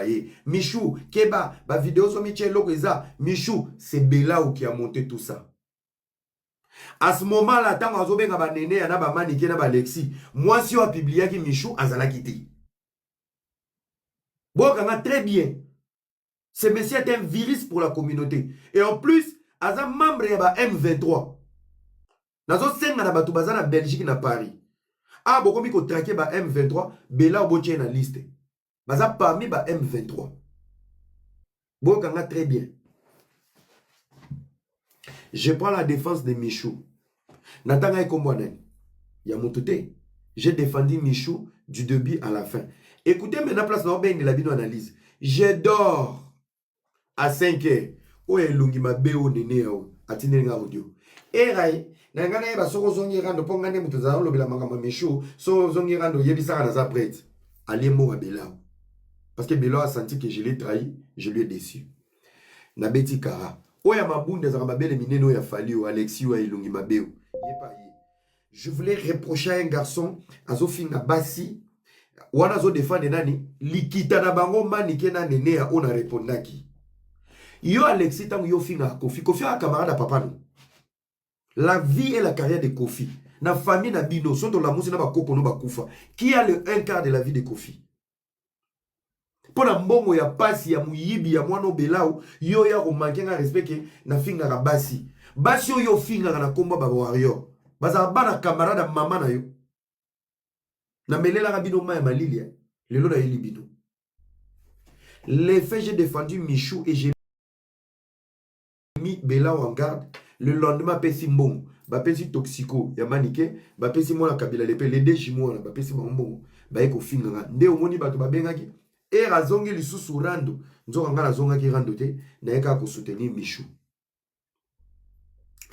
ye Michou keba ba video ozo mitia eloko eza Michou c'est Belau qui a monte tout ça à ce moment là ntango azobenga baneneya na bamanike na balexi mwasi oyo apibliaki michou azalaki te boyokanga très bien ce monsieur est un virus pour la communauté et en plus aza membre ya ba m23 nazosenga na bato baza na belgique na paris awa ah, bokomi kotrake ba m23 bela obotie na liste baza parmi ba M23 boyoka nga très bien je prends la défense de Michou natanga ye kombo nani ya moto te j'ai défendu Michou du début à la fin écoutez maintenant place na obendela bino analyse je dors a 5 heures oyo elongi mabe oyo nene ya oyo atindeli nga audio erai na ngai nayeba soki ozongi rando mpo ngai nde moto ezala olobela makambo ya mishu soki ozongi rando oyebisaka naza prete alie mbonga belau parce que belau asanti que je l'ai trahi je lui ai déçu nabeti kara oyo ya mabunda ezalaka mabele minene oyo ya fali oyo alexi oyo ya elongi mabe oyo ye pa ye je voulais reprocher un garçon azofinga basi wana azodefendre nani likita na bango manike na nene ya oyo na repondaki yo alexi ntango yo ofingaka kofi kofi aka camarade ya papa no la vie et la carrière de kofi na famille na bino so tolamusi na bakoko no bakufa qui a le un quart de la vie de kofi mpo na mbongo ya pasi ya moyibi ya mwana obelau yo oya komanke nga respect ke nafingaka basi basi oyo ofingaka na nkombo ba warrior bazala bana camarade ya mama na yo namelelaka bino mai ya malilia lelo nayeli bino les faits j'ai défendu michou et j'ai mis Bella en garde le lendemain apesi mbongo bapesi toxico ya manike bapesi mwana kabila lepe le deux jumeaux wana bapesi bango mbongo baye kofinga nga nde omoni bato babengaki ere azongi lisusu rando nzoka ngai nazongaki rando te naye kaka kosoutenir michou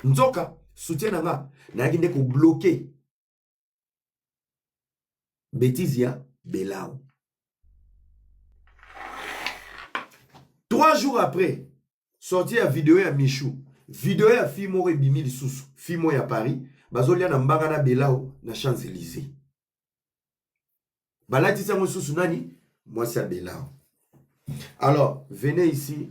nzoka soutien na nga nayaki nde kobloke Betizi ya Belao. Trois jours après, sorti ya video ya Michou, video ya fille moko ebimi lisusu, fille moko ya Paris, bazolia na mbanga na Belao na Champs-Élysées. balatisi yango susu nani mwasi ya belao alors venez ici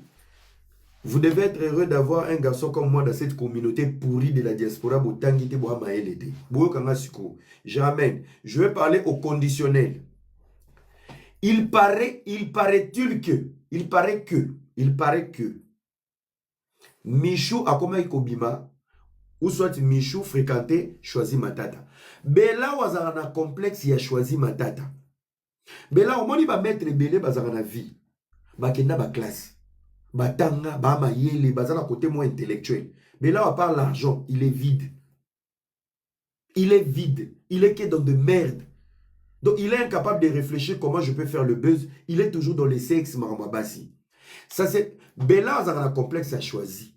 vous devez être heureux d'avoir un garçon comme moi dans cette communauté pourrie de la diaspora botangi te boya mayele te boyoka nga sikoyo j'amène je vais parler au conditionnel il paraît il paraît-il que il paraît que il paraît que Michou akomaki kobima ou soit Michou fréquentait Choisi Matata. Bella wazaka na complexe ya Choisi Matata. Bella omoni ba maître ebele bazaka na vie. Bakenda ba classe. Batanga ba mayele bazana côté moins intellectuel. Bella à part l'argent, il est vide. Il est vide. Il est que dans de merde. Donc il est incapable de réfléchir comment je peux faire le buzz. Il est toujours dans les sexes maramabasi. Ça c'est Bella azaka na complexe a choisi.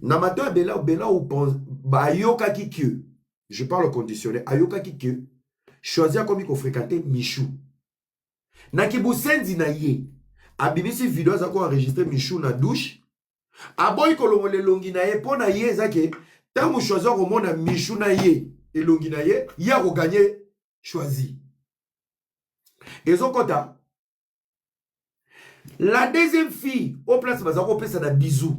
Na mato ya Bella Bella ou pense ba ayokaki que je parle au conditionnel ayokaki que choisi akomi ko fréquenter Michou. Na kibusenzi na ye abimisi video azako enregistrer Michou na douche aboyi kolongola elongi na ye mpo na ye eza ke ntango choisi akomona michu na ye elongi na ye ye akoganye choisi ezokota la deuxième fille au place baza kopesa na bisou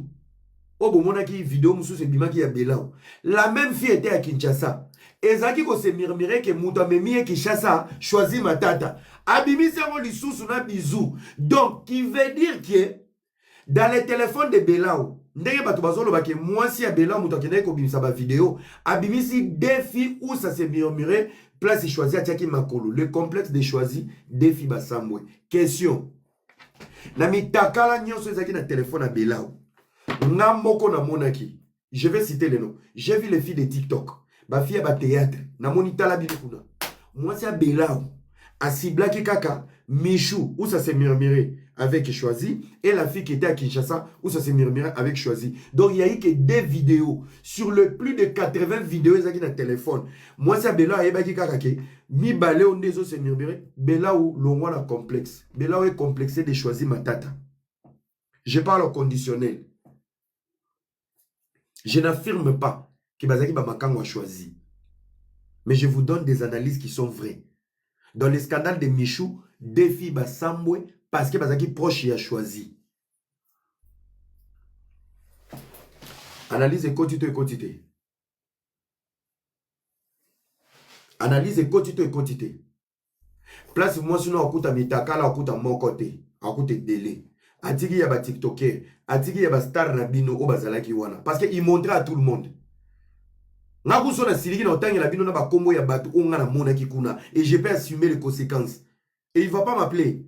oyo bomonaki video mosusu ebimaki ya belao la même fille ete ya kinshasa ezalaki kosemirmire ke moto amemi ye kinshasa choisi matata abimisi yango lisusu na bisou donc qui veut dire que dans le téléphone de Belao ndenge bato bazoloba ke mwasi ya Belao moto akendaki kobimisa bavideo abimisi deux filles où ça se murmure place choisi atiaki makolo le complexe de choisi deux filles basambwe question na mitakala nyonso ezalaki na telefone ya Belao nga moko namonaki je vais citer le nom j'ai vu les filles de tiktok bafi ya bateatre namoni tala bino kuna mwasi ya belau asiblaki kaka michou usa se murmure avec choisi et la fille qui était à kinshasa usa se murmure avec choisi donc il y a eu que deux vidéos sur le plus de 80 vidéos ezalaki na téléphone mwasi ya belau ayebaki kaka ke mibale oyo nde ezo se murmure belau longwa na complexe belau ecomplexe de choisi matata je parle au conditionnel Je n'affirme pas que Bazaki Bamakango a choisi. Mais je vous donne des analyses qui sont vraies. Dans le scandale de Michou, deux filles Basambwe parce que Bazaki proche et a choisi. Analyse ekoti to ekoti te. Analyse ekoti to ekoti te. place mwasi no akuta mitakala akuta moko te akuta ebele atiki ya batiktoker atiki ya bastar na bino oyo bazalaki wana parce que imontre à tout le monde nga kuso nasiliki na otangela bino na bakombo ya bato oyo nga namonaki kuna et je peux assumer les conséquences et il va pas m'appeler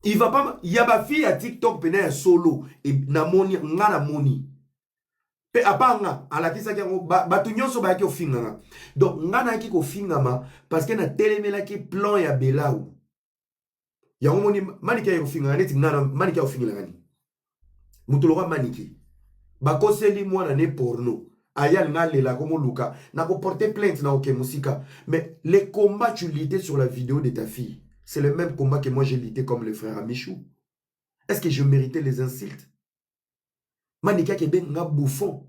il va pas ya ba fille ya TikTok pena ya solo e, na moni nga na moni pe apanga alakisaki yango bato nyonso bayaki kofinga nga donc nga nayaki kofingama parce que natelemelaki plan ya belau yango moni manike ya kofingaka neti nga manike ya kofingelaka nini moto loka manike bakoseli mwana ne porno aya alinga alela akomoluka na koporte plainte na oke mosika mais le combat tu lite sur la vidéo de ta fille c'est le même combat que moi j'ai lite comme le frère amichou est-ce que je méritais les insultes manike akebe nga bouffon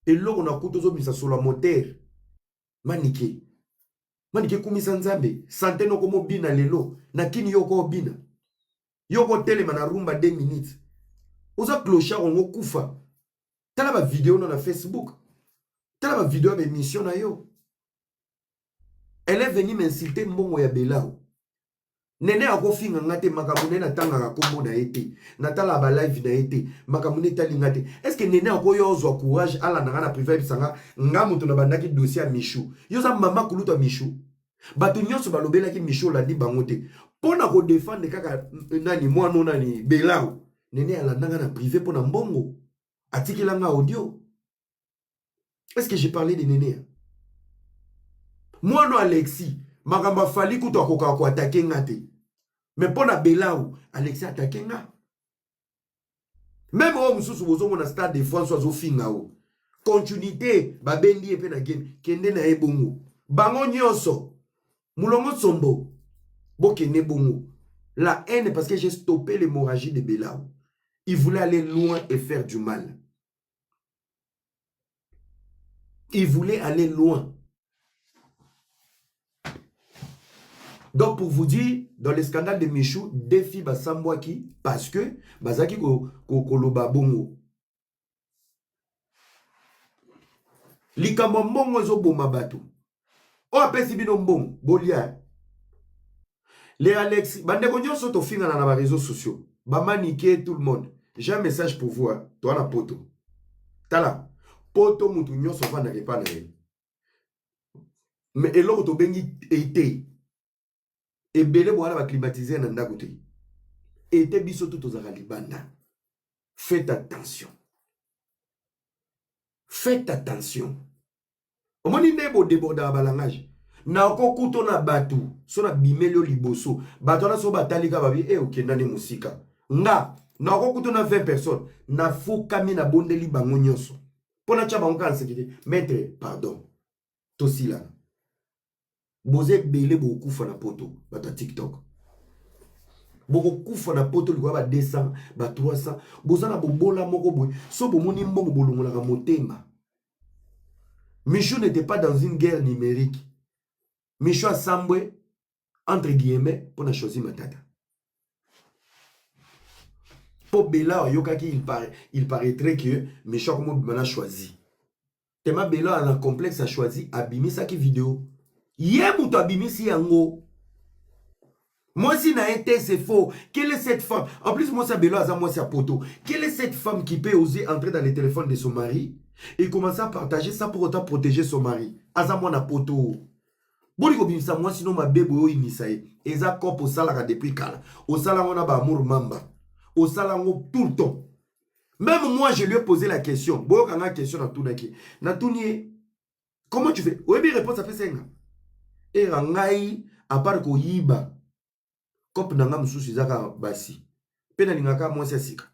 eloko na kutu ozobimisa solo ya motere manike manike ekumisa nzambe sante noko mobina lelo na kini yo oko obina yo okotelema na rumba 2 minutes oza clochard ongo kufa tala bavideo no na facebook tala bavideo ya baemission na yo elle est venue m'insulter mbongo ya belao nene akofinga nga te makambo nene natangaka nkombo na ye te natalaka balive na ye te makambo nene etali nga te estce nene akoya ozwa courage alanda nga na prive ayebisa nga nga moto nabandaki dossier ya michou yo oza mama kuluta michou bato nyonso balobelaki michel olandi bango te mpo na kodefendre kaka eh, nani mwano nani belao nene alandanga na prive mpo na mbongo atikelanga audio est ce que j'ai parlé de nenea mwano alexi makambo afali kutu akokaka koatake nga te me mpo na belau alexi atake nga meme oyo mosusu bozomona stade de france azofinga o continuité babendi ye mpe na game kende na ye bongo bango nyonso mulongo nsombo bokende bongo la haine parce que j'ai stoppé l'hémorragie de belao il voulait aller loin et faire du mal Il voulait aller loin. Donc pour vous dire, dans le scandale de Michou, deux filles basambwaki parce que bazaki ko, ko, koloba bongo. likambo mbongo ezoboma bato oyo apesi bino mbongo bolia le alexi bandeko nyonso tofingana na bareseau sociaux bamanike tout le monde j'ai un message pour vous toa na poto tala poto motu nyonso afandaka epa na ye me eloko tobengi ete ebele bowana ba climatiser na ndako te ete biso tu tozalaka libanda faites attention faites attention omoni nde bodebordaka balangage nakokuto na bato so na bimeli yo liboso bato wana so batalika babi e eh, okenda nde mosika nga nakokuto na 20 personnes nafukami nabondeli bango nyonso mpo natya bango kaka nseki te maitre pardon tosilana boza ebele bokokufa na poto bato ya tiktok bokokufa na poto likolo ba 200 ba 300 boza na bobola moko boye so bomoni mbongo bolongolaka motema michou n'était pas dans une guerre numérique michou asambwe entre guillemets mpo na choisi matata mpo bela oyokaki il, paraît, il paraîtrait que michel akomobima na choisi tema bela ana complexe ya choisi abimisaki video ye moto abimisi yango mwasi na ye te c'est faux quelle est cette femme en plus mwasi ya belo aza mwasi ya poto quelle est cette femme qui peut oser entrer dans le téléphone de son mari et commencer à partager ça pour autant protéger son mari aza mwana poto boni kobimisa mwasi no mabe boye oyinisa ye eza cope osalaka depuis kala osala yango na baamour mamba osala yango tout le temps même moi je lui ai posé la question boyoka nga question natunaki natuni ye comment tu fais oyebi réponse apesa ye nga era ngai apart koyiba cope na nga mosusu ezaka basi mpe nalingaka mwasi ya sika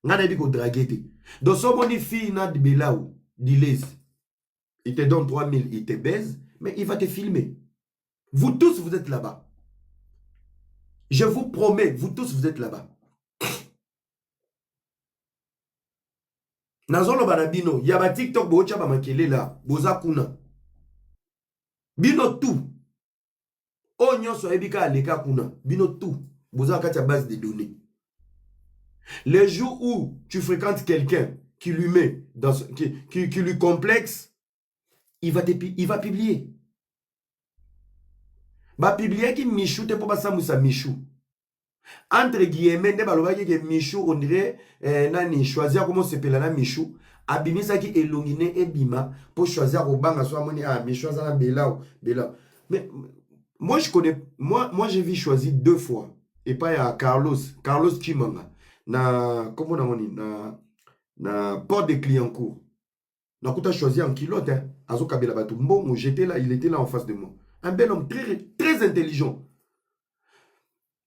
ngai nayebi kodrage te donc so omoni fille na belau dilese il te donne 3000, il te baise, mais il va te filmer. Vous tous, vous êtes là-bas. Je vous promets, vous tous, vous êtes là-bas. nazoloba na bino ya batiktok bootya bamakelela boza kuna bino tout oyo nyonso ayebi kaka aleka kuna bino tout boza na kati ya base de données le jour où tu fréquentes quelqu'un qui lui met dans son- qui, qui, qui lui complexe il va, te, pi- il va publier bapibliaki michou te mpo basambwisa michou entre guillemets nde balobaki ke michu on dirait eh, nani choisi akomosepela na michu abimisaki elongi ne ebima mpo choisi akobanga so amoni ah michu aza na belao belao mais moi je connais moi, moi j'ai vu choisi deux fois epai ya carlos carlos chimanga na nkombo nango nini na, na port de cliencourt nakuta choisir en culotte hein. azokabela bato mbongo j'étais là il était là en face de moi un bel homme très, très intelligent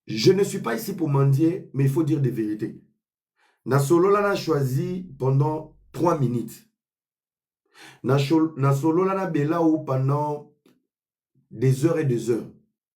je ne suis pas ici pour mendier mais il faut dire des vérités nasolola na choisi pendant 3 minutes nasolola na belao pendant des heures et des heures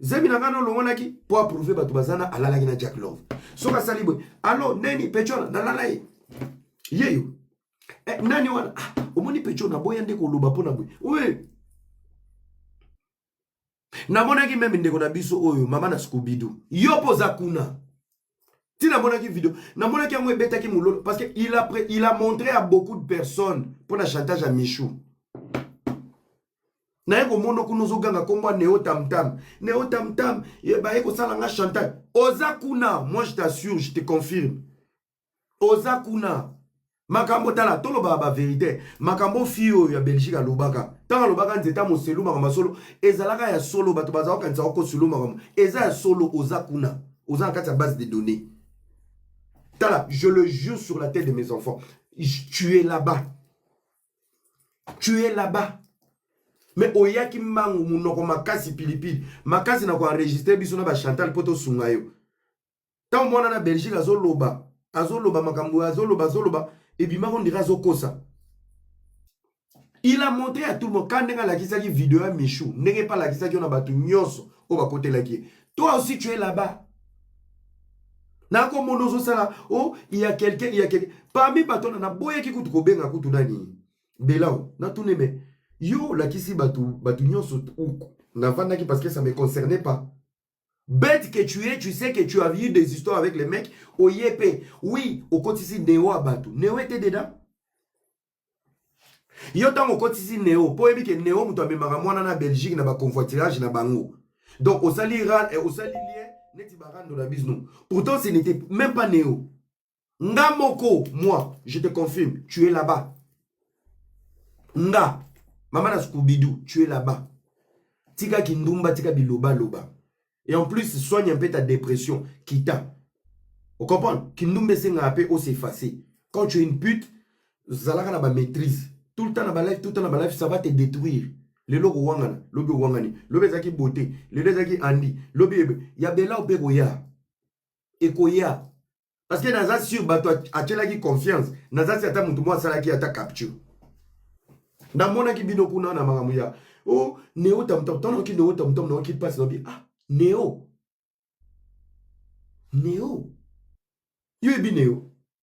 zemi na ngai nolongolaki mpo aprouve bato baza na alalaki na jack love soki asali boye alo neni pecho wana nalala ye yeyo eh, nani wana ah, omoni pecho naboya nde koloba mpo na boye we namonaki meme ndeko na biso oyo mama na skubidu yo mpo oza kuna ti namonaki video namonaki yango ebetaki mololo parce que il a, il a montré à beaucoup de personnes mpo na chantage ya michou naye komona kuna ozoganga nkombo ya neo tamtam neo tamtam baye kosala nga chantage oza kuna moi je t'assure je te confirme oza kuna makambo tala tolobaka baverité makambo fille oyo ya belgique alobaka ntango alobaka nzeta moselu makambo ya solo ezalaka ya solo bato bazala kokanisa okoselu makambo eza ya solo oza kuna oza na kati ya base de données tala je le jure sur la tête de mes enfants tu es là-bas tu es là-bas me oyaki mbangu monoko makasi pilipili makasi na koenregistre biso na bachantal mpo tosunga yo ntango mwana na belgique azoloba azoloba makambo azoloba azoloba ebimaka ondire azokosa il a montré à tout le monde ka ndenge alakisaki video ya michou ndenge mpe alakisaki yo na bato nyonso oyo bakotelaki ye toi aussi tu es là-bas nakomona ozosala o oh, ya quelqu'un ya quelqu'un parmi bato wana naboyaki kutu kobenga kutu nani belao natune me yo olakisi bato bato nyonso navandaki parce que ça me concernait pas bête que tu es tu sais que tu as eu des histoires avec les mecs oye pe oui okotisi neo ya bato neo ete dedans yo ntango okotisi neo mpo oyebi ke neo moto amemaka mwana na belgique na baconvoitirage na bango donc osali eh, osali lien neti barando na bisno pourtant ce n'était même pas neo nga moko moi je te confirme tu es là-bas nga mama na scoobidu tu es là-bas tika kindumba tika bilobaloba et en plus soigne un peu ta dépression kita ocomprendre kindumba esengaka mpe osefase quand tu es une pute zalaka na bamaîtrise tout le temps na balife tout le temps na balife ça va te détruire lelo kowangana lobi owangani lobi ezalaki bote lelo ezalaki andi lobi ebe ya belao mpe koya ekoya parce que naza sur bato atyelaki confiance naza si ata moto moko asalaki ata capture namonaki bino kuna na makambo ya o oh, neo tamtam ntango naoki neo tamtam naoki mpasi naobi ah neo neo yo yebi neo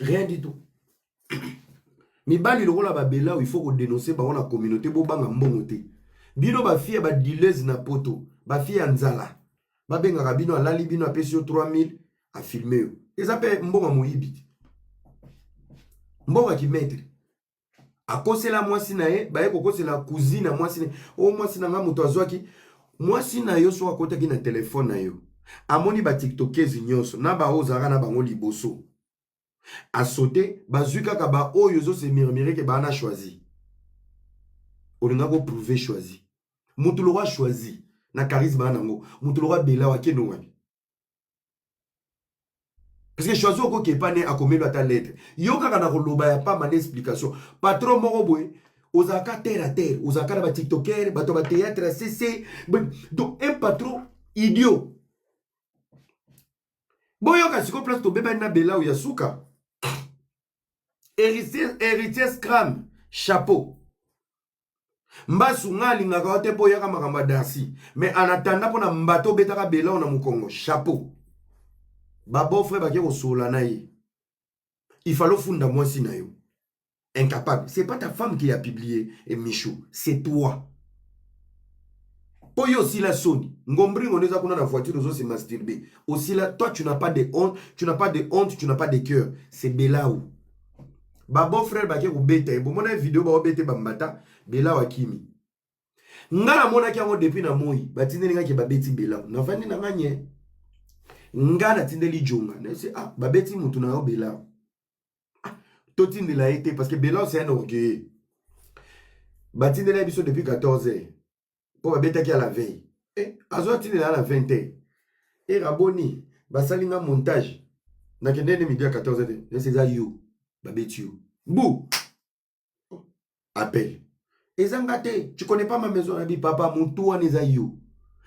rien du tout mibali lokola babela oyo ifo kodenonse bango na communauté bobanga mbongo te bino bafie ya badilese na poto bafie ya nzala babengaka bino alali bino apesi yo 3000 afilme yo eza mpe mbongo ya moyibi te mbongo ya kimetre akosela mwasi na ye baye kokosela kuzi na mwasi na o mwasi na ngai moto azwaki mwasi na yo soki akotaki na telefone na yo amoni batiktokezi nyonso na baoyo ozalaka na bango liboso asote bazwi kaka baoyo ozosemirmireke baa na choisi olinga koprouve choisi moto lokola choisi na charisme yango moto lokola bela wakende wapi Parce que choisi okoki epa ne akomelo ata lettre. Yo kaka na koloba ya pamba na explication. Patron moko boye ozalaka terre à terre, ozalaka na ba tiktoker, bato ba théâtre CC. Donc un patron idiot. Boyoka siko place tobebani na Belau ya suka. Héritier, héritier Scram, chapeau. mbasu nga alingaka yo te mpo oyaka makambo ya darcy me anatanda mpo na mbata obetaka belao na mokongo chapeau babofre bake kosolola na ye ifale ofunda mwasi na yo incapable c'est pas ta femme qui a publié et michou c'est toi mpo yo osila soni ngombringo nde eza kuna na voiture ozo se masturbe osila toi tu n'as pas de honte tu n'as pas de honte tu n'as pas de cœur c'est belao ba beau frère bake kobeta ye bomona video baobete bambata bela wakimi nga namonaki yango depuis na moi batindeli nga ke babeti bela navandi na nga nye nga natindeli jonga nayese ah babeti motu na yo bela ah, totindela ye te parce que bela c'est un orgueilleux batindeli ya biso depuis 14 heures mpo babetaki ya la veille eh, azwa ntina ya la 20 te era boni basali nga montage nakende nde midi ya 14 te nesi eza yo babeti yo bu oh, appel eza nga te tu connais pas ma maison na bi papa motu wana eza yo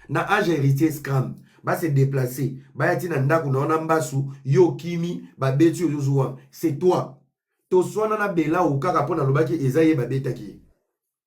na age héritier scram base déplace baya ti na ndako na wana mbasu yo okimi babeti yo ozozuwa c'est toi toswana na bela o kaka mpo nalobaki eza ye babetaki ye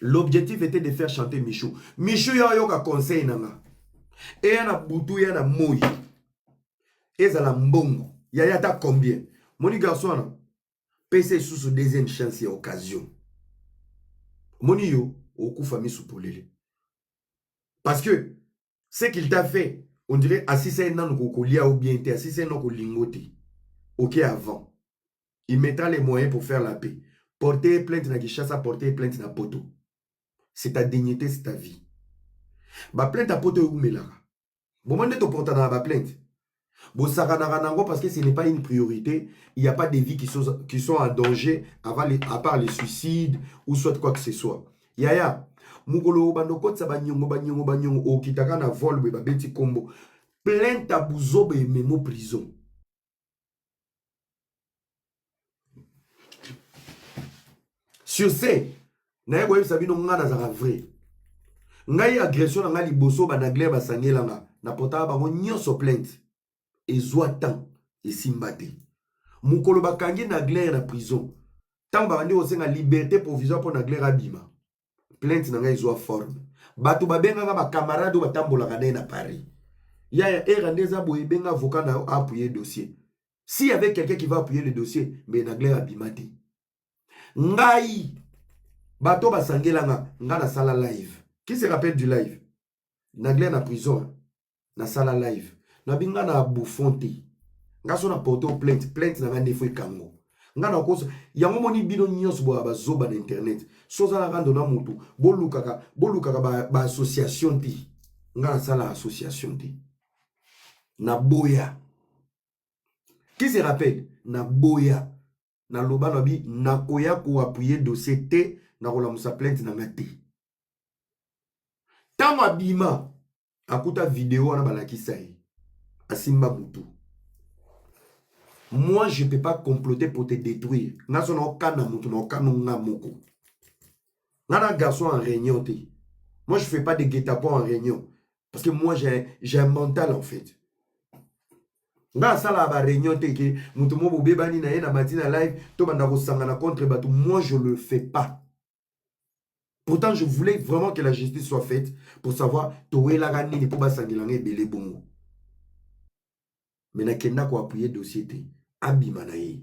L'objectif était de faire chanter Michou. Michou ya yoka conseil nanga. Eya na butu ya na moyi. Ezala mbongo. Ya ya ta combien? Moni garçon wana. Pese susu deuxième chance ya occasion. Moni yo okufa misu polele. Parce que ce qu'il t'a fait on dirait asisa ye nanu kokolia ou bien te asisa ye noko lingo te ok avant il mettra les moyens pour faire la paix porter plainte na Kinshasa porter plainte na poto c'est ta dignité c'est ta vie ba plainte ya poto eumelaka bomoni nde toportana na ba plainte bosakanaka nango parce que ce n'est pas une priorité il n'y a pas des vies qui sont, qui sont en danger avant les, à part les suicides ou soit quoi que ce soit yaya mokolo obanda okotisa banyongo banyongo banyongo okitaka na vol boye babeti nkombo plainte ya buzoba ememo prison sur ce naye koyebisa bino ngai nazalaka vrai ngai agression na ngai liboso banagler basangela nga na potaka bango nyonso plainte ezwa temps esimba te mokolo bakangi nagler na prison ntango babandi kosenga liberté provisoire mpo nagler abima plainte na ngai ezwa forme bato babengaka bacamarade oyo batambolaka na ye na paris yaya era nde eza boye ebenga avocat na yo appuye dossier si avec quelqu'un qui va appuyer le dossier mais nagler abima te ngai bato basangelanga nga nasala live qui se rappelle du live nagler na prison nasala live nabi nga na bouffon te nga so na porte o plainte plainte na nga nde fo ekango nga na kosa yango moni bino nyonso boya bazoba na internet so oza na rando na motu bolukaka bolukaka baassociation ba te nga nasala association te naboya qui se rappelle naboya naloba na bi nakoya koapuye dossier te na kolamusa plainte na nga te ntango abima akuta video wana balakisa ye asimba mutu moi je peux pas comploter pour te détruire nga so naokana mutu naokano nga moko nga na garçon en réunion te moi je fais pas de guetapon en réunion parce que moi j'ai un mental en fait nga asalaka ba réunion te ke moto mo bobebani na ye na mati na live tobanda kosangana contre bato moi je le fais pas pourtant je voulais vraiment que la justice soit faite pour savoir towelaka nini mpo basangela nga ebele bongo me nakenda koapuye dossier te abima na ye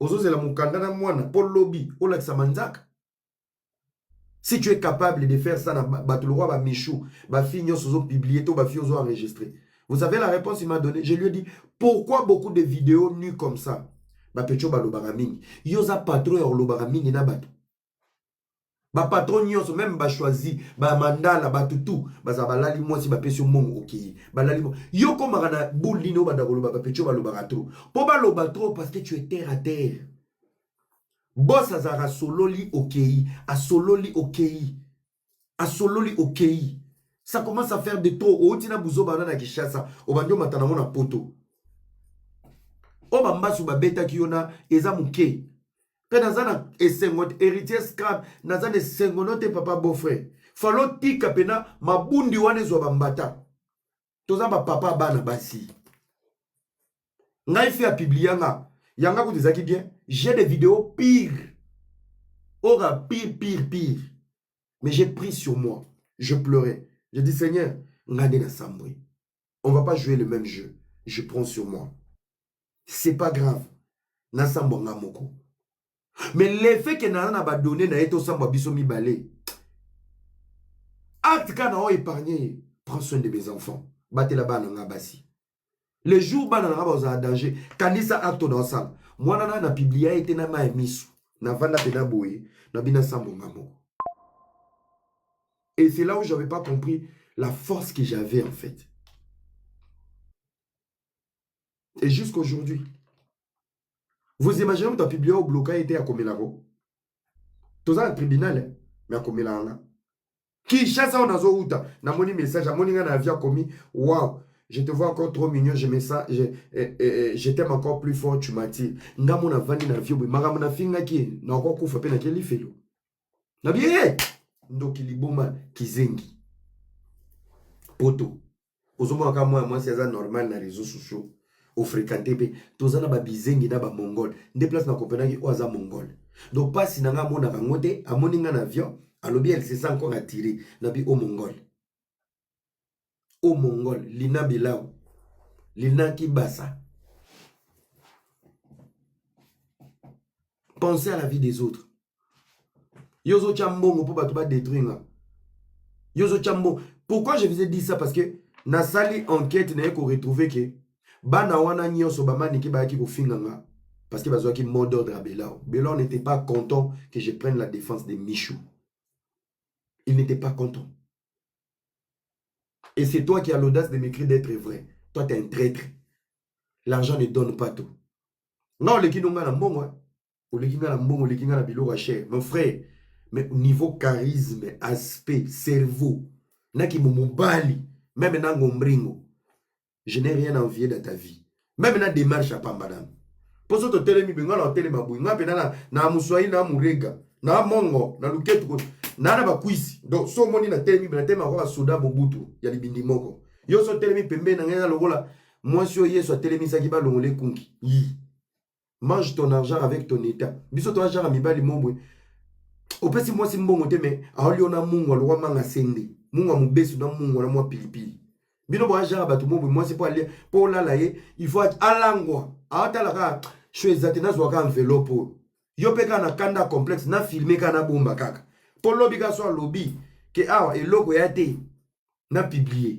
ozozela mokanda na mwana mpo lobi olakisa manzaka si tu es capable de faire ça na bato lokwa bamichou bafille nyonso ozopublie to bafille ozo enregistre vous savez la réponse il m'a donné je lui ai dit pourquoi beaucoup de vidéos nu comme ça bapecho balobaka mingi yo oza patron ya kolobaka mingi na bato bapatron nyonso meme bachoisi bamandala bato tu bazala balali mwasi bapesi yo mbongo okei balali yo okomaka na bule nini obanda koloba bapetio balobaka trop mpo baloba trop parce que tu es terre à terre bos azalaka asololi okei asololi okei asololi okei ça commence à faire de trop outi na buzoba wana na kinshasa obandi omata nango na poto oyo bambasu babetaki yo na eza moke mpe naza na esengo te héritier scrab naza na esengo no te papa beaufrere falo tika mpena mabundi wana ezwa bambata toza ba papa bana basi ngai fi ya publia nga yanga kutu ezalaki bien j'ai des vidéos pire ora pire pire pire mais j'ai pris sur moi je pleurais je dis seigneur nga nde nasambwe on va pas jouer le même jeu je prends sur moi c'est pas grave nasambwa nga moko mais le fait que nana na badonne na ye tosambwa biso mibale acte kaka na o épargne ye prends soin de mes enfants batela bana nga basi le jour bana na nga bazala danger kanisa acte na osala mwana na na publia ye te na mai miso navanda mpena boye na bina sambwa nga moko et c'est là où j'avais pas compris la force que j'avais en fait et jusqu'aujourd'hui vous imaginez moto apiblia obloka ye te akomela ko toza na tribunal eh, me akomela yanga kinshasa oyo nazowuta namoni message amoni ngai na avi akomi wow je te vois encore trop mignon je me sens je, eh, eh, je t'aime encore plus fort tu m'attires nga mona vandi na vie boye makambo nafingaki ye nakokufa mpe nakeli felo na bie ndoki liboma kizengi poto ozomona kaka mwana mwasi aza normal na réseau sociaux ofréquente mpe toza na babizengi na bamongole nde place na kopenaki oyo aza mongole donc mpasi na ngai amonaka yango te amoni ngai na avion alobi elle se sent encore attiré na bi o mongole o mongole lina bilau lina kibasa pensez à la vie des autres yo ozotya mbongo mpo bato badetruire nga yo ozotya mbongo pourquoi je vous ai dit ça parce que nasali enquête naye koretrouve ke bana wana nyonso bamanike bayaki kofinga nga parce que bazwaki mot d'ordre ya belor belor n'était pas content que je prenne la défense de michou il n'était pas content et c'est toi qui as l'audace de m'écrire d'être vrai toi t'es un traître l'argent ne donne pas tout nga oleki no nga na mbongo oleki nga na mbongo oleki nga na biloko ya cher mon frère mais niveau charisme aspect cerveau na kimo mobali meme na ngombringo je n'ai rien envier dans ta vie meme na démarche ya pamba nano mpo so totelemi benga na otelema boye nga mpe na na moswai na morega na mongo na luketu ko na na bakwisi donc so omoni na telemi na telema kwa basoda mobutu ya libindi moko yo so otelemi pembeni na ngai na lokola mwasi oyo yesu atelemisaki balongola ekunki yi mange ton argent avec ton etat biso toa jaka mibali mobwe opesi mwasi mbongo te me aolio na mungwa lokwa manga sende mungwa mobesu na mungwa na mwa pilipili bino boa jaka bato mobwe mwasi mpo alia mpo olala ye il faut alangwa aotala kaka sho eza te nazwa kaka enveloppe oyo yo mpe kaka na kanda complexe na filme kaka na bomba kaka mpo lobi kaka so alobi ke awa eloko ya te na publie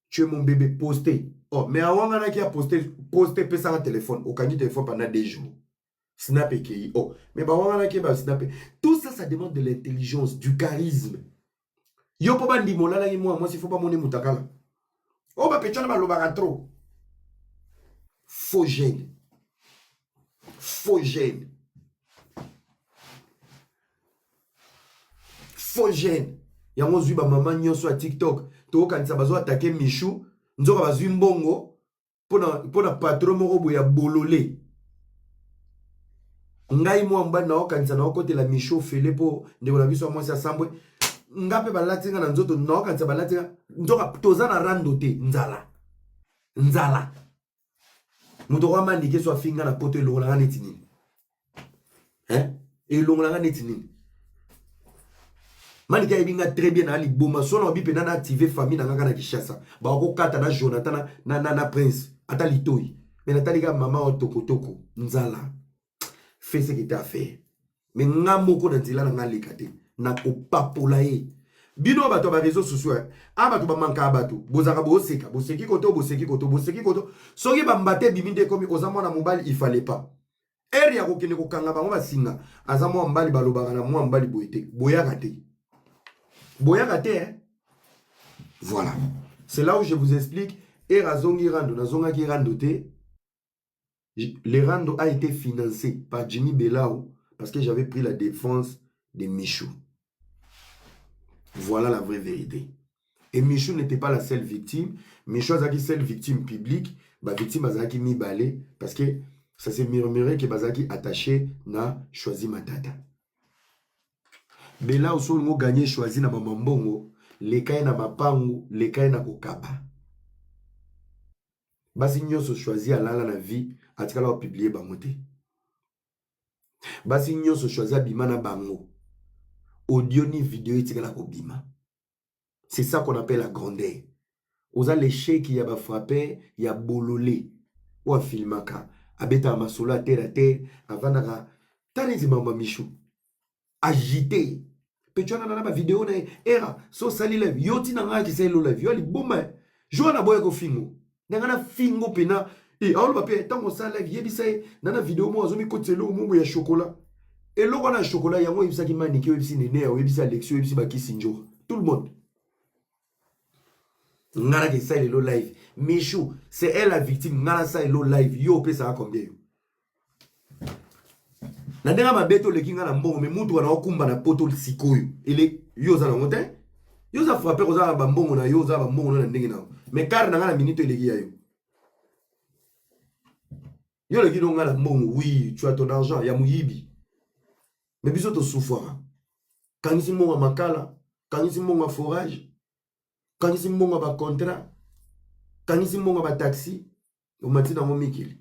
tu es mon bebe poste oh mais awanganaki ya poste poste pesanga telefone okangi telefone pendant deux jours snap ekei oh mais bawanganaki ye basnape tout ça ça demande de l'intelligence du charisme yo mpo bandima olalaki mwana mwasi fo bamoni mutakala oyo oh, bapetwana balobaka trop faux gene faux gene faux jeune yango ozwi bamama nyonso ya tiktok tokokanisa bazo atake michou nzoka bazwi mbongo mpo na patro moko boye ya bolole ngai mwa mobali naokanisa naokotela michou fele mpo ndeko na biso ya mwasi asambwe nga mpe balati nga na nzoto naokanisa balati nga nzoka toza na rando te nzala nzala moto okoya manike so afinga na poto elongola nga neti nini eh? elongola nga neti nini manike ayebi nga très bien na liboma so naobi mpenza na active famille na ngaka na kinshasa bakokata na jonathan na, na, na, na prince ata litoi me natali kaka mama wa tokotoko nzala fais ce que tu as fait mais nga moko na nzela na nga leka te nakopapola ye bino bato ya bareseau sociaux eh. a ah, bato bamankaka bato bozalaka boseka boseki koto boseki koto boseki koto soki bambata ebimi nde ekomi oza mwana mobali ifale pas ere ya kokende kokanga bango basinga aza mwa mbali balobaka na mwa mbali boye te boyaka te boyaka te eh? voilà c'est là où je vous explique ere azongi rando nazongaki rando te Le rando a été financé par Jimmy Belao parce que j'avais pris la défense de Michou. Voilà la vraie vérité. Et Michou n'était pas la seule victime. Michou azaki seule victime publique. Ba victime azaki mibale parce que ça s'est murmuré que bazaki attaché na choisi matata. Bela oso ngo gagné choisi na mama mbongo, lekai na mapangu, lekai na kokaba. basi nyonso choisi alala na vie atikala kopiblie bango te basi nyonso choisi abima na bango audio ni video etikala kobima c'est ça qu'on appelle la grandeur oza lesheki ya bafrappe ya bolole oyo afilmaka abetaka masolo ya terre a terre avandaka ta neti mama michou agite mpe twana na na bavideo na ye era so osali live yo ntina ngai akisa elo live yo aliboma eh. joa na boya kofingo na ngai nafingo mpena e eh, aoloba mpe ntango osala live yebisa ye na na video moko azomikotisa eloko moko ya shokola eloko wana ya shokola yango oyebisaki manike oyebisi nene oyebisi alexi oyebisi bakisi njoka tout le monde nga nake sali lo live michou c'est elle la victime nga nasali lo live yo opesaka combien yo na ndenge mabe toleki nga na mbongo me mutuka na okumba na poto sikoyo ele yo oza nango te yo oza frappe oza na bambongo na yo oza na bambongo na ndenge na yo me kare na nga na minito eleki ya yo yo oleki no nga na mbongo oui tu as ton argent ya moyibi me biso tosufwaka kangisi mbongo ya makala kangisi mbongo ya forage kangisi mbongo ya bacontrat kangisi mbongo ya bataxi omati nango mikili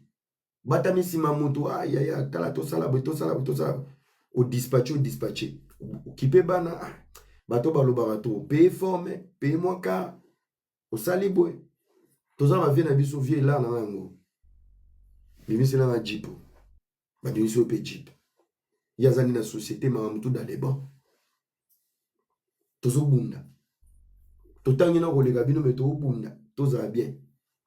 batami nsima motu ayaya ah, tala tosala boye tosala boye tosala boye odispatche odispatche okipe bana ah, bato balobaka to paye forme paye mwa kar osali boye toza bavie na biso vie elana yango bimiselanga jipo babimisi yo mpe jeep ye azali na société mama motu dans les bancs tozobunda totangi na koleka bino me tobunda tozala bien